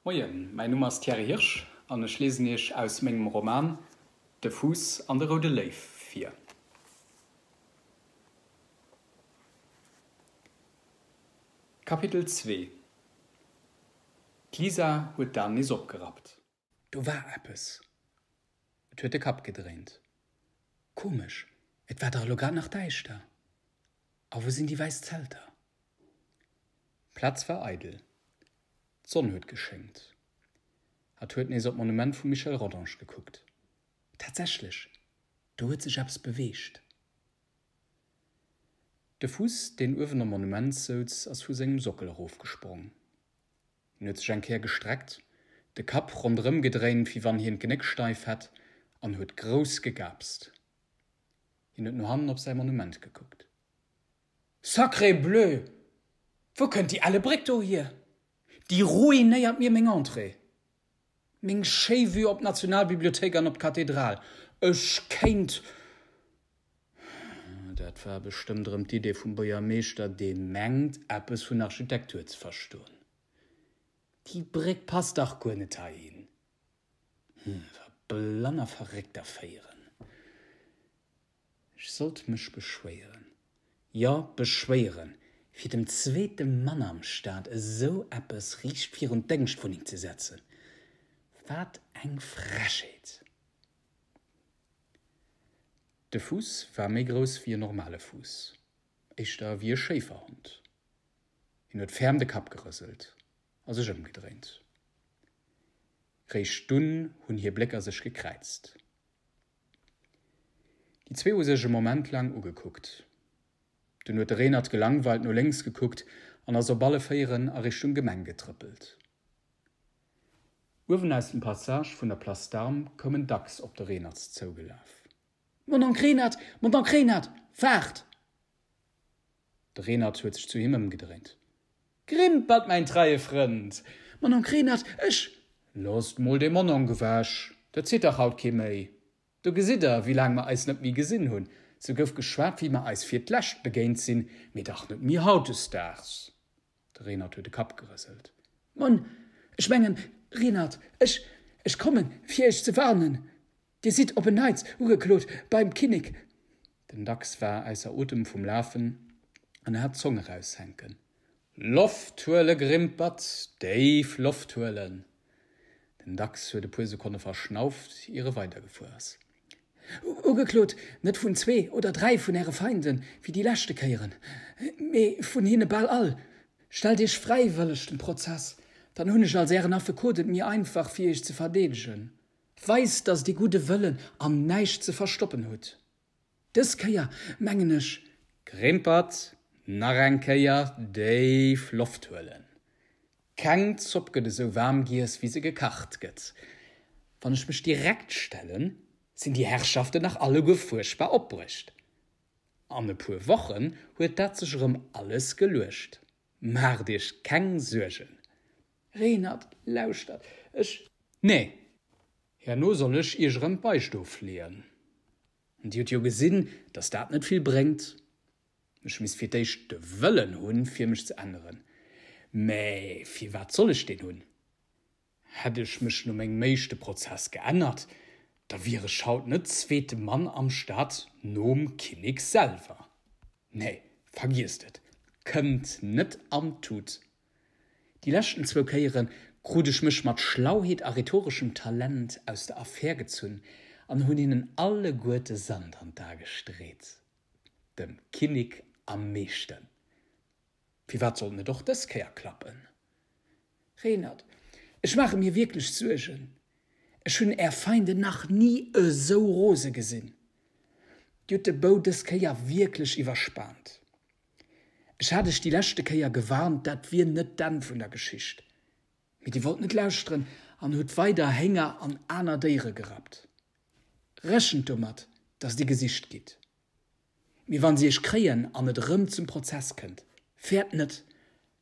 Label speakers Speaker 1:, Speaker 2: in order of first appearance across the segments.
Speaker 1: Moien, mäin Numm ass Thierry Hirsch an ech liesen Iech aus mengem Roman De Fuuss an de roude Léiw vir. Kapitel zwee D'Lisa huet d'Aen nees opgerappt. Do war
Speaker 2: eppes. Et huet de Kapp gedréint. Komesch, et war dach elo grad nach däischter. A wou sinn déi wäiss Zelter? D'Plaz
Speaker 1: war eidel. D'Sonn huet geschéngt. Hatt huet nees op d'Monument vum Michel Rodange gekuckt. Tatsächlech,
Speaker 2: do huet sech eppes beweegt.
Speaker 1: De Fuuss, deen uewen am Monument souz, ass vu sengem Sockel erofgesprong. Hien huet sech eng Kéier gestreckt, de Kapp ronderëm gedréint, wéi wann hien d'Genéck steif hätt, an huet grouss gegaapst. Hien huet no hannen op säi Monument gekuckt.
Speaker 2: Sacré bleu! Wou kënnt déi Ellebréck do hier? Déi ruinéiert mir meng Entrée! Meng schéi Vue op d'Nationalbibliothéik an op d'Kathedral. Ech kéint.
Speaker 1: Dat war bestëmmt erëm d'Idee vum Buergermeeschter, dee mengt, eppes vun Architektur ze verstoen.
Speaker 2: Déi Bréck passt dach guer net heihin. Hm, wa
Speaker 1: blann a Verréckt erféieren. Ech sollt mech beschwéieren, jo beschwéieren, fir dem zweete Mann am Staat esou eppes riicht virun d'Déngschtwunneng ze setzen. Wat eng Frechheet! De Fuuss war méi grouss wéi e normale Fuuss, éischter wéi e Schéiferhond. Hien huet ferm de Kapp gerëselt a sech ëmgedréint. Réischt dunn hunn hir Blécker sech gekräizt. Déi zwee hu sech e Moment laang ugekuckt. Dunn huet de Renert gelangweilt no lénks gekuckt an ass op alle Véieren a Richtung Gemeng getrëppelt. Uewen aus dem Passage vun der Place d'Armes koum en dacks op de Renert zougelaf. Mon onk
Speaker 2: Renert, mon onk Renert, waart!
Speaker 1: De Reenert huet sech zu him ëmgedréint. Grimpert, mäin treie Frënd! Mononk Reenert,
Speaker 2: ech. Loosst mol dee
Speaker 1: Mononk ewech, dat zitt dach haut kee méi. Do gesitt der, wéi laang mer eis net méi gesinn hunn. Sou gouf geschwat, wéi mer eis fir d'lescht begéint sinn, mee dach net méi hautdesdaags. De Renert huet de Kapp gerëselt. Mon,
Speaker 2: ech mengen, Renert, ech, ech kommen, fir iech ze warnen. Dir sidd op en Neits ugeklot beim Kinnek. Den Dachs
Speaker 1: war ausser Otem vum Lafen an hat d'Zong eraushänken. Loft huele Grimpert, déif Loft huelen! Den Dachs huet e puer Sekonne verschnauft, ier e weidergefuer ass.
Speaker 2: Ugeklot, Net vun zwee oder dräi vun Äre Feinde wéi déi leschte Kéieren, mee vun hinne bal all. Stellt Iech fräiwëlleg dem Prozess, dann hunn ech als Ären Affekot et méi einfach fir Iech ze verdeedegen. Weist, datt Dir gudde Wëllen an näischt ze verstoppen hutt. Dës Kéier mengen ech. Grimpert,
Speaker 1: Nach eng Kéier déif Loft huelen. Keng Zopp gëtt esou waarm giess, wéi se gekacht gëtt. Wann ech mech direkt stellen, sinn déi Herrschaften nach alleguer fuerchtbar opbruecht. An e puer Wochen huet dat sech erëm alles geluecht. Maacht iech keng Suergen. Reenert,
Speaker 2: lauschtert, ech. Nee,
Speaker 1: herno soll ech iech erëm d'Beistow fleeën. Dir hutt jo gesinn, datt dat net vill bréngt. Ech misst fir d'éischt de Wëllen hunn, fir mech ze änneren. Mä firwat soll ech deen hunn? Hätt ech mech no mengem éischte Prozess geännert, da wier ech haut net zweete Mann am Staat nom Kinnek selwer. Nee, vergiesst et, kënnt net an d'Tut. Déi leschten zwou Kéiere krut ech mech mat Schlauheet a rhetoreschem Talent aus der Affär gezunn an hunn hinnen alleguerte Sand an d'Ae gestreet. Dem Kinnik am meeschten. Firwat sollt net och dës Kéier klappen?
Speaker 2: Reenert, Ech maache mir wierklech Suergen. Ech hunn är Feinde nach ni esou rose gesinn. Dir hutt de Bou dës Kéier wierklech iwwerspaant. Ech hat Iech déi leschte Kéier gewarnt, dat wier net d'Enn vun der Geschicht. Mee Dir wollt net lauschteren an hutt weider Hénger an aner Déiere gerappt. Rechent domat, dass Dir gesicht gitt. Mee wa si Iech kréien an et erëm zum Prozess kënnt, fäert net,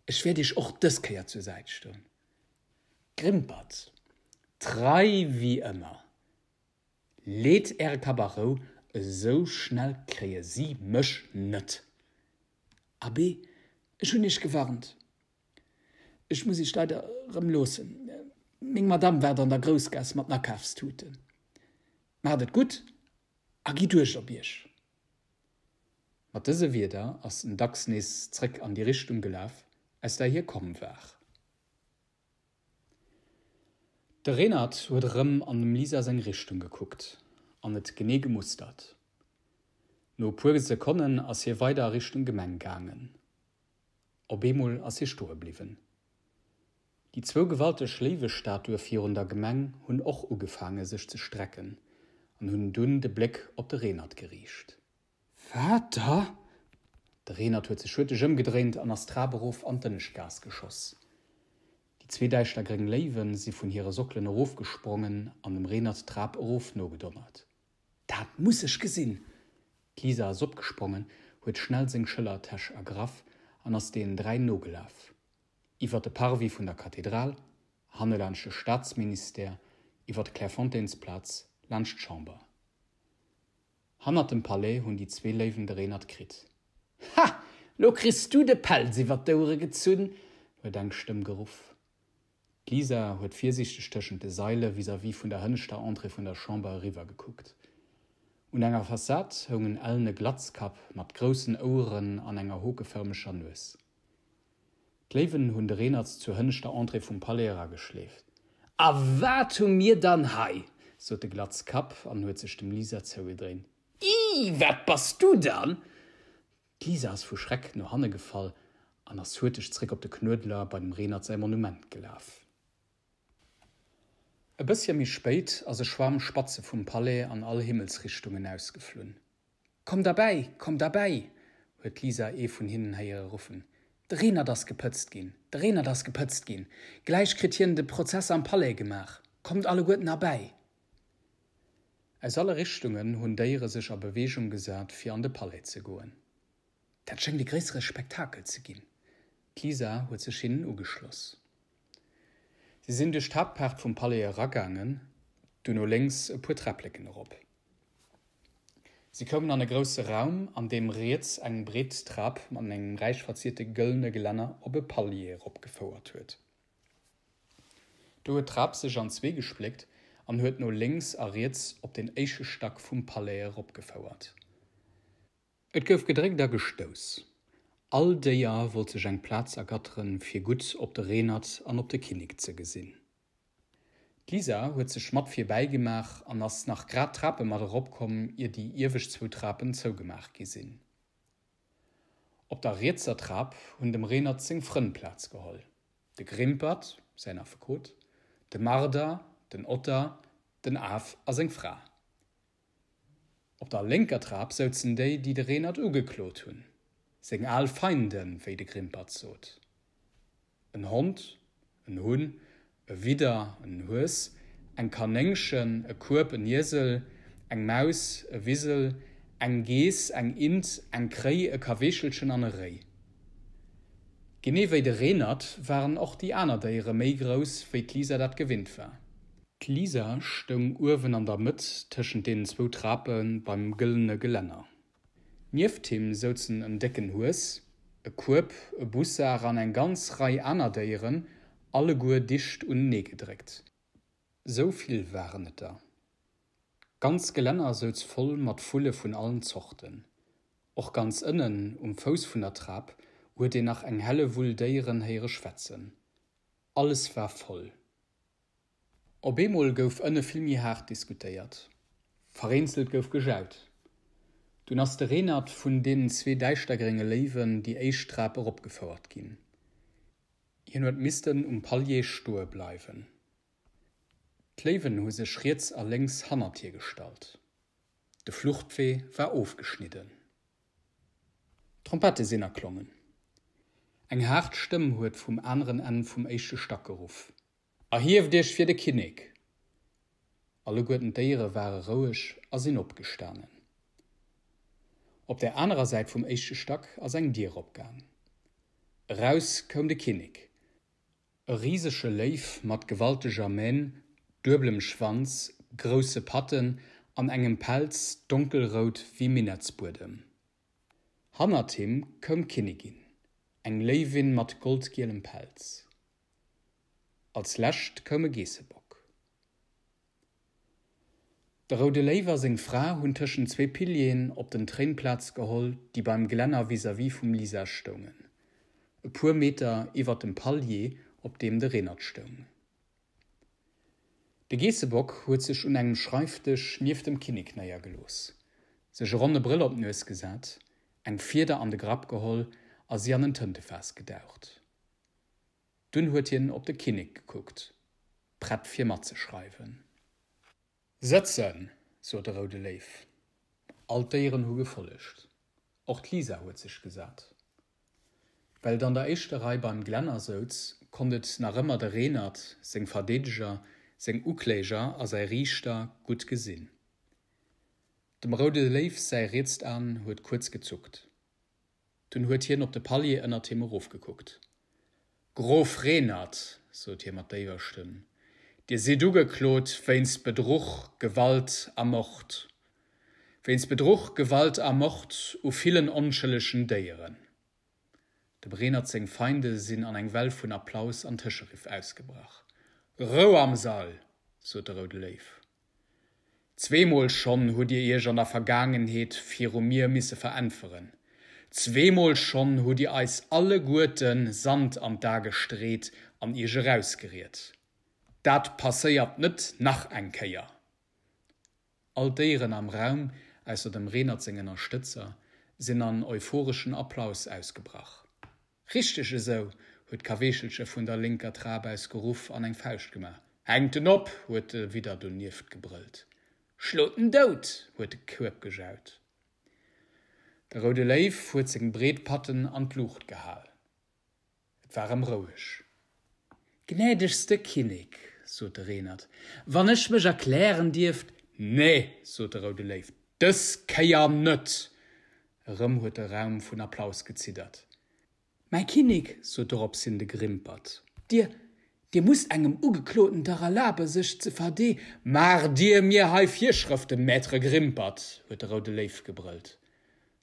Speaker 2: ech wäert Iech och dës Kéier zur Säit stoen. Grimpert
Speaker 1: trei wéi ëmmer. Leet Äre Kapp a Rou, esou schnell kréie si mech net.
Speaker 2: Abee, ech hunn Iech gewarnt. Ech muss iech leider erëm loossen. Meng Madame waart an der Groussgaass mat den Akafstuten. Maacht et gutt a gitt uecht op iech!
Speaker 1: Mat dëse Wierder ass den Dachs nees zréck an déi Richtung gelaf, aus där hie komm war. De Renert huet erëm an dem Lisa seng Richtung gekuckt an et genee gemustert. No e puer Sekonnen ass hie weider a Richtung Gemeng gaangen. Op eemol ass hie stoe bliwwen. Déi zwou gewalteg Léiwestatue virun der Gemeng hunn och ugefaange sech ze strecken an hunn dunn de Bléck op de Renert geriicht. Wat da? De Renert huet sech hurteg ëmgedréint an ass d'Trap erof an d'Ënneschtgaass geschoss. Déi zwee däischter gréng Léiwen si vun hire Sockelen erofgesprongen an dem Renert d'Trap erof nogedonnert. Dat muss
Speaker 2: ech gesinn! D'Lisa ass
Speaker 1: opgesprongen, huet schnell seng Schëllertäsch ergraff an ass deenen dräi nogelaf. Iwwer de Parvis vun der Kathedral, hanne laanscht de Staatsministère, iwwer d'Clairefontainsplaz, laanscht d'Chamber. Hannert dem Palais hunn déi zwee Léiwen de Reenert kritt. Ha!
Speaker 2: Lo kriss du de Pelz iwwer d'Ouere gezunn! huet eng Stëmm
Speaker 1: geruff. D'Lisa huet virsiichteg tëschent de Saile vis-à-vis vun der hënneschter Entrée vun der Chamber eriwwer gekuckt. Un enger Fassad houng en ellene Glatzkapp mat groussen Oueren an enger hokefërmeger Nues. D'Léiwen hunn de Reenert zur hënneschter Entrée vum Palais erageschleeft. A
Speaker 2: wat hu mir dann hei! sot de Glatzkapp
Speaker 1: an huet sech dem Lisa zougedréint. Ih, wat
Speaker 2: bass du dann? D'Lisa
Speaker 1: ass vu Schreck no hanne gefall an ass huerteg zréck op de Knuedler bei dem Renert säi Monument gelaf. E bëssche méi spéit ass e Schwaarm Spatze vum Palais an all Himmelsrichtungen ausgeflunn. Kommt erbäi!
Speaker 2: Kommt erbäi! huet d'Lisa ee vun hinnen héiere ruffen. De Renert ass gepëtzt ginn! De Renert ass gepëtzt ginn! Gläich kritt hien de Prozess am Palais gemaach! Kommt alleguerten erbäi!
Speaker 1: Aus alle Richtungen hunn Déiere sech a Beweegung gesat, fir an de Palais ze goen. Dat schéngt
Speaker 2: e gréissere Spektakel ze ginn. D'Lisa huet
Speaker 1: sech hinnen ugeschloss. Si sinn duerch d'Haaptpaart vum Palais eragaangen, duerno lénks e puer Träppleken erop. Si koumen an e grousse Raum, an deem riets eng breet Trap mat engem räich verzierte gëllene Gelänner op e Palier eropgefouert huet. Do huet d'Rab sech an zwee gespléckt an huet no lénks a riets op den éische Stack vum Palais eropgefouert. Et gouf gedréckt a gestouss. All Déier wollt sech eng Plaz ergatteren, fir gutt op de Renert an op de Kinnek ze gesinn. D'Lisa huet sech mat virbäi gemaach an ass nach grad d'Trape mat eropkomm, ier déi iewescht zwou Trapen zougemaach gi sinn. Op der rietser Trap hunn dem Renert seng Frënn Plaz geholl, de Grimpert, säin Affekot, de Marder, den Otter, den Af a seng Fra. Op der lénker Trap souzen déi, déi de Renert ugeklot hunn, seng al Feinde wéi de Grimpert sot. En Hond, en Hunn, e Widder, en Hues, eng Kanéngchen, e Kueb, en Iesel, eng Maus, e Wisel, eng Geess, eng Int, eng Kréi, e Kaweechelchen an e Réi. Genee wéi de Reenert waren och déi aner Déiere méi grouss, wéi d'Lisa dat gewinnt war. D'Lisa stoung uewen an der Mëtt tëschent deenen zwou Trape beim gëllene Gelänner. Nieft him souzen en décken Hues, e Kueb, e Bussar an eng ganz Rei aner Déieren, alleguer dicht unenee gedréckt. Sou vill waren et der. D'ganz Gelänner souz voll mat Vulle vun allen Zorten. Och ganz ënnen um Fouss vun der Trap huet een nach eng helle Wull Déieren héiere schwätzen. Alles war voll. Op eemol gouf ënne vill méi haart diskutéiert. Vereenzelt gouf gejaut. Dunn ass de Reenert vun deenen zwee däischtergrénge Léiwen déi éischt Trap eropgefouert ginn. Hien huet missten um Palier stoe bleiwen. D'Léiwen hu sech riets a lénks hannert hie gestallt. De Fluchtwee war ofgeschnidden. D'Trompette sinn erklongen. Eng haart Stëmm huet vum aneren Enn vum éischte Stack geruff. Erhieft iech fir de Kinnek! Alleguerten d'Déiere ware roueg a sinn opgestanen. Op der anerer Säit vum éischte Stack ass eng Dier opgaang. Eraus koum de Kinnek. E risege Léiw mat gewalteger Mähn, dueblem Schwanz, grousse Patten an engem Pelz, donkelrout wéi Minettsbuedem. Hannert him koum d'Kinnigin, eng Léiwin mat goldgielem Pelz. Als lescht koum e Geessebock. De Roude Léiw a seng Fra hunn tëschent zwee Pilieren op den Tréin Plaz geholl, déi beim Glänner vis-à-vis vum Lisa stoungen, e puer Meter iwwer dem Palier, op deem de Renert stoung. De Geessebock huet sech un engem Schreifdësch nieft dem Kinnek néiergelooss, sech e ronne Brëll op d'Nues gesat, eng Fieder an de Grapp geholl a si an en Tëntefaass gedaucht. Dunn huet hien op de Kinnek gekuckt, prett fir matzeschreiwen. Sëtzen! sot de Roude Léiw. All d'Déieren hu gefollegt. Och d'Lisa huet sech gesat. Well et an der éischter Rei beim Glänner souz, konnt et nach ëmmer de Reenert, seng Verdeedeger, seng Ukläger a säi Riichter gutt gesinn. Dem Roude Léiw säi rietst An huet kuerz gezuckt. Dunn huet hien op de Palier ënnert him erofgekuckt. Grof Renert, sot hie mat déiwer Stëmm, Dir sidd ugeklot wéinst Bedruch, Gewalt a Mord. Wéinst Bedruch, Gewalt a Mord u villen onschëllegen Déieren. Dem Renert seng Feinde sinn an eng Well vun Applaus an Tëscheriff ausgebrach. Rou am Sall! sot de Roude Léiw. Zweemol schonn hutt Dir Iech an der Vergaangenheet viru mir misse veräntweren. Zweemol schonn hutt Dir eis alleguerte Sand an d'A gestreet an Iech erausgeriet. Dat passéiert net nach eng Kéier! All d'Déieren am Raum, ausser dem Renert seng Ënnerstëtzer, sinn an euphoreschen Applaus ausgebrach. Richteg esou! huet d'Kaweechelche vun der lénker Trap aus geruff an eng Fauscht gemaach. Hänkt en op! huet de Widder donieft gebrëllt. Schlot en dout! huet de Kueb gejaut. De Roude Léiw huet seng breet Patten an d'Luucht gehal. Et war erëm roueg. Gnädegste Kinnek, sot de Reenert, wann ech mech erklären dierft. Nee, sot de Roude Léiw, dës Kéier net! Erëm huet de Raum vun Applaus geziddert. Mäi Kinnek, sot doropshin de Grimpert. Dir, Dir musst engem Ugekloten dach erlabe sech ze verde. Maach Dir mir hei Virschrëften, Maître Grimpert! huet de Roude Léiw gebrëllt.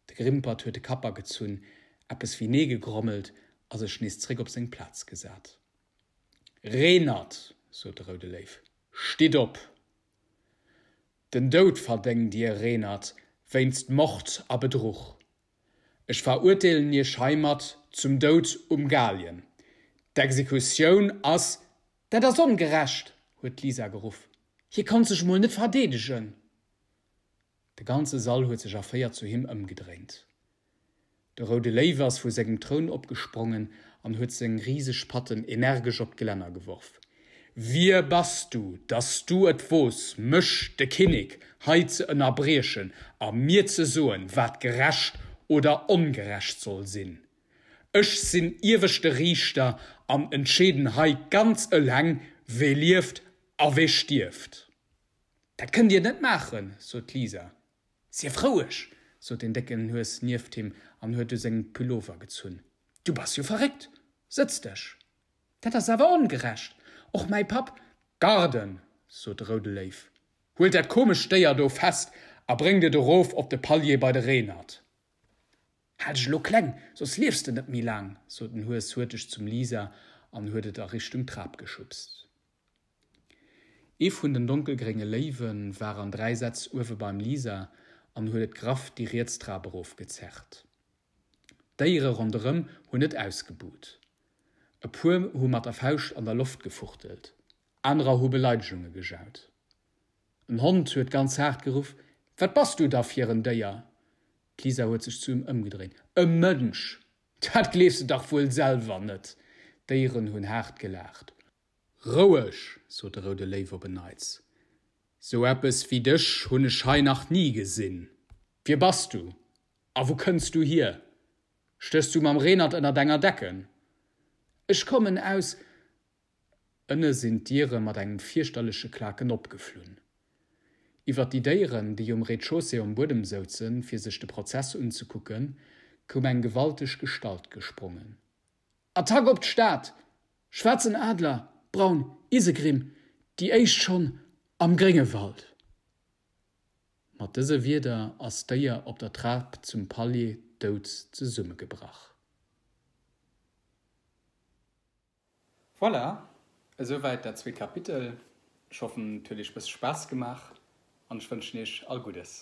Speaker 1: De Grimpert huet de Kapp agezunn, eppes wéi Nee gegrommelt a sech nees zréck op seng Plaz gesat. Reenert, sot de Roude Léiw, stitt op! Den Doud verdéngt dir, Reenert, wéinst Mord a Bedruch. Ech veruerteelen iech heimat zum Doud um Galgen. D'Exekutioun ass. Dat ass ongerecht! huet d'Lisa geruff. Hie konnt sech emol net verdeedegen. De ganze Sall huet sech erféiert zu him ëmgedréint. De Roude Léiw ass vu sengem Troun opgesprongen an huet seng riseg Patten energesch op d'Gelänner geworf. Wie bass du, dass du et wooss, mech, de Kinnek, hei ze ënnerbriechen a mir ze soen, wat gerecht oder ongerecht soll sinn? Ech sinn ieweschte Riichter an entscheeden hei ganz eleng, wee lieft a wee stierft! Dat kënnt Dir net maachen, sot d'Lisa. Sief roueg, sot den décken Hues nieft him an huet u sengem Pullover gezunn. Du bass jo verréckt! Sëtz dech! Dat ass awer ongerecht! Och mäi Papp. Garde! sot de Roude Léiw. Huelt dat komescht Déier do fest a bréngt et erof op de Palier bei de Reenert. Hal dech elo kleng, soss liefs de net méi laang, sot den Hues huerteg zum Lisa an huet et a Richtung Trap geschubst. Ee vun den donkelgrénge Léiwe war an dräi Sätz uewe beim Lisa an huet et graff déi riets Trap erof gezerrt. D'Déiere ronderëm hunn net ausgebuht. E puer hu mat der Fauscht an der Loft gefuchtelt, anerer hu Beleidegunge gejaut. En Hond huet ganz haart geruff, Wat bass du da fir en Déier? D'Lisa huet sech zu ëm ëmgedréint, E Mënsch! Dat gleefs de dach wuel selwer net! D'Déieren hunn haart gelaacht. Roueg! sot de Roude Léiw op en Neits. Sou eppes wéi dech hunn ech hei nach ni gesinn. Wie bass du a wou kënns du hier? Stéchs du mam Reenert ënnert enger Decken? Ech kommen aus. Ënne sinn d'Diere mat engem fierchterleche Klaken opgeflunn. Iwwert déi Déieren, déi um Rez-chaussée um Buedem souzen, fir sech de Prozess unzekucken, koum eng gewalteg Gestalt gesprongen. Attack op d'Stad, schwaarzen Adler, braun Isegrimm, déi éischt schonn am Gréngewald. Mat dëse Wierder ass d'Déier op der Trap zum Palier dout zesummegebrach.
Speaker 3: Voilà,
Speaker 1: esou wäit dat zweet Kapitel. Ech hoffen, et huet iech e bësse Spaass gemaach an ech wënschen iech all Guddes.